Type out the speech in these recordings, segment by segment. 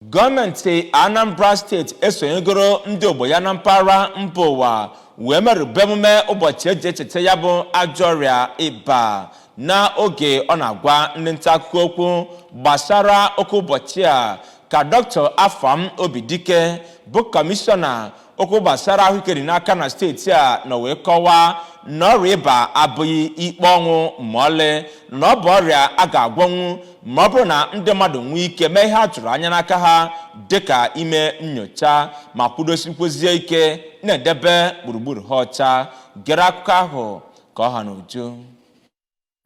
gọọmenti anambra steeti esonyegoro ndị ogbo ya na mpaghara mba ụwa wee merube emume ụbọchị eji echeta ya bụ ajọ ọrịa ịba na oge ọ na-agwa ndị nta akụkọ okwu gbasara oke ụbọchị a ka dr afam obidike bụ kọmishọna okwu gbasara ahụike dị n'aka na steeti a nọ wee kọwaa na ọrịa ịba abụghị ikpe ọnwụ ma ọlị na ọ bụ ọrịa a ga-agwọnwu ma ọ bụrụ na ndị mmadụ nwee ike mee ihe a tụrụ anya n'aka ha dịka ime nnyocha ma kwudosikwezie ike na-edebe gburugburu ha ọcha gere akụkọ ahụ ka ọ ha n'uju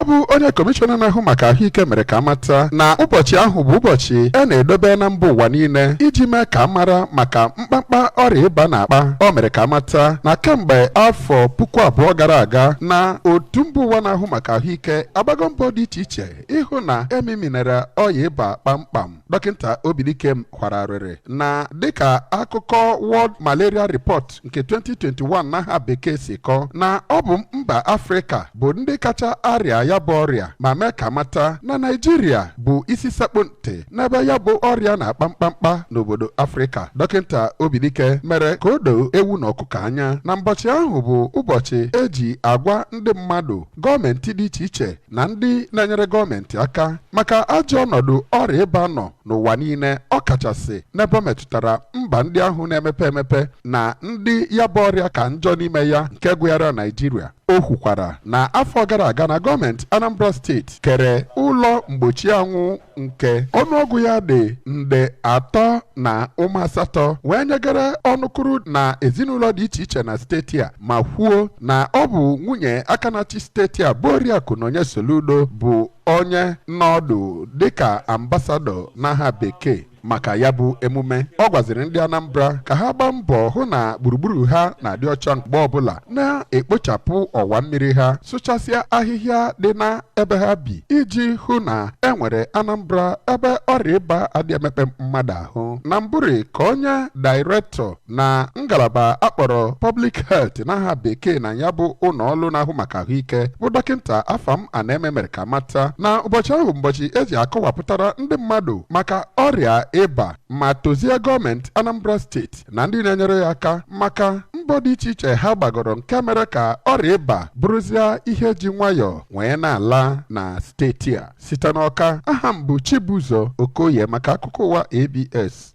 ọ bụ onye kọmishọna na-ahụ maka ahụike mere ka amata na ụbọchị ahụ bụ ụbọchị a na-edobe na mba ụwa niile iji mee ka amara maka mkpamkpa ọrịa ịba na-akpa o mere ka amata na kemgbe afọ puku abụọ gara aga na otu mba ụwa na-ahụ maka ahụike agbago mbọ dị iche iche ịhụ na e meminara ọya ịba kpamkpam dọkịta Obidike kwara arịrị na dịka akụkọ World Malaria Report nke 2021 n'aha bekee si kọọ na ọ bụ mba Afrịka bụ ndị kacha arịa ya bụ ọrịa ma mee ka amata na Naịjirịa bụ isi sekpụ ntị n'ebe ya bụ ọrịa na-akpa mkpamkpa n'obodo Afrịka dọkịta Obidike mere ka o doo ewu na ọkụkọ anya na mbọchị ahụ bụ ụbọchị eji agwa ndị mmadụ gọọmenti dị iche iche na ndị na-enyere gọọmenti aka maka ajọ ọnọdụ ọrịa ịba nọ n'ụwa niile ọ kachasị n'ebe metụtara mba ndị ahụ na-emepe emepe na ndị ya bụ ọrịa ka njọ n'ime ya nke gụnyere Naịjirịa o kwukwara na afọ gara aga na gọọmenti Anambra steeti kere ụlọ mgbochi anwụ nke ọnụọgụ ya dị nde atọ na ụma asatọ wee nyegara ọnụkụrụ na ezinụlọ dị iche iche na steeti a ma kwuo na ọ bụ nwunye aka na-achị steeti a bụ oriakụ Nonye Soludo bụ onye nọdụ dịka ambasadọ n'aha bekee maka ya bụ emume ọ gwaziri ndị Anambra ka ha gbaa mbọ hụ na gburugburu ha na-adị ọcha mgbe ọbụla na-ekpochapụ ọwa mmiri ha sụchasịa ahịhịa dị na ebe ha bi iji hụ na e nwere Anambra ebe ọrịa ịba adị emekpa mmadụ ahụ na mbụri ka onye dairektọ na ngalaba akpọrọ Public Health n'aha bekee na ya bụ ụlọ ọrụ na-ahụ maka ahụike bụ dọkịta Afam Anaeme mere ka amata na ụbọchị ahụ ụbọchị eji akọwapụtara ndị mmadụ maka ọrịa ịba ma tozie gọọmenti Anambra steeti na ndị na-enyere ya aka maka mbọ dị iche iche ha gbagoro nke mere ka ọrịa ịba bụrụzie ihe ji nwayọọ wee na-ala na steeti a site n'Ọka aha m bụ Chibuzo Okoye maka akụkọ ụwa ABS